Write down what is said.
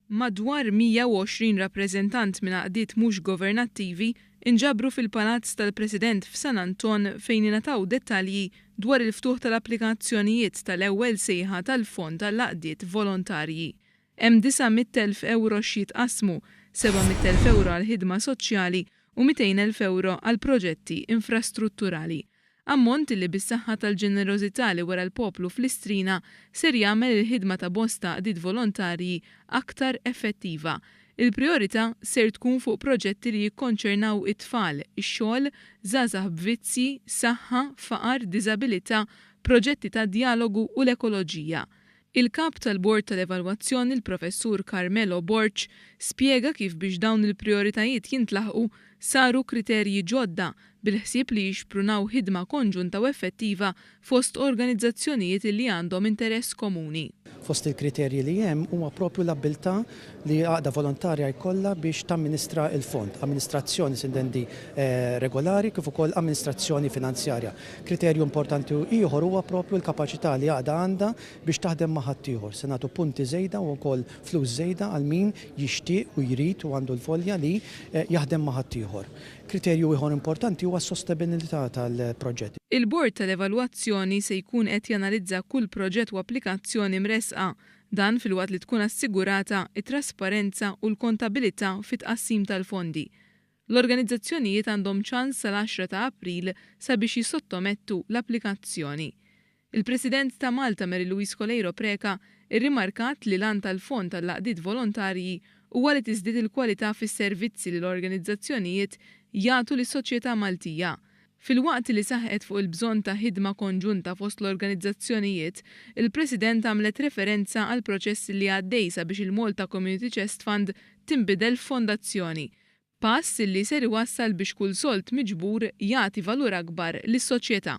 Madwar 120 rappreżentant minn għaqdiet mhux governattivi nġabru fil-Palazz tal-President f'San Anton fejn ingħataw dettalji dwar il-ftuħ tal-applikazzjonijiet tal-ewwel sejħa tal-Fond għall-Għaqdiet Volontarji. Hemm 900 elf ewro x'jitqassmu, 700 elf ewro għall-ħidma soċjali u 200 elf ewro għal proġetti infrastrutturali. Ammont li bis-saħħa tal-ġenerożità li wera l-poplu f'Listrina ser jagħmel il-ħidma ta' bosta għaqdiet volontarji aktar effettiva. Il-prijorità ser tkun fuq proġetti li jikkonċernaw it-tfal, ix-xogħol, żgħażagħ b'vizzji, saħħa, faqar, diżabilità, proġetti ta' djalogu u l-ekoloġija. Il-Kap tal-Bord tal-Evalwazzjoni l-Professur Carmelo Borg spjega kif biex dawn il-prijoritajiet jintlaħqu saru kriterji ġodda bil-ħsieb li jixprunaw ħidma konġunta u effettiva fost organizzazzjonijiet li għandhom interess komuni. Fost il-kriterji li hemm huwa proprju l-abbiltà li għaqda volontarja jkollha biex tamministra l-Fond, amministrazzjoni sindendi regolari kif ukoll amministrazzjoni finanzjarja. Kriterju importanti ieħor huwa proprju l-kapaċità li għaqda għandha biex taħdem ma' ħaddieħor. Se nagħtu punti żejda u wkoll flus żejda għal min jixtieq u jrid u għandu l-volja li jaħdem ma' ħaddieħor. Kriterju ieħor importanti huwa s-sostebenilità tal-proġett. Il-Bord tal-Evalwazzjoni se jkun qed janalizza kull proġett u applikazzjoni mressqa Dan filwaqt li tkun assigurata t-trasparenza u l-kontabilità fit-tqassim tal-fondi. L-organizzazzjonijiet għandhom ċans sal-għaxra ta' April sabiex jissottomettu l-applikazzjoni. Il-President ta' Malta Mary Louise Coleiro Preca rrimarkat li l-għan tal-Fond għall-Għaqdiet Volontarji huwa li tiżdied il-kwalità fis-servizzi li l-organizzazzjonijiet jagħtu lis-soċjetà Maltija, Filwaqt li saħqet fuq il-bżonn ta' ħidma konġunta fost l-organizzazzjonijiet, il-President għamlet referenza għall-proċess li għaddej sabiex il-Malta Community Chest Fund tinbidel f'fondazzjoni, pass li ser iwassal biex kull sold miġbur jagħti valur akbar lis-soċjetà.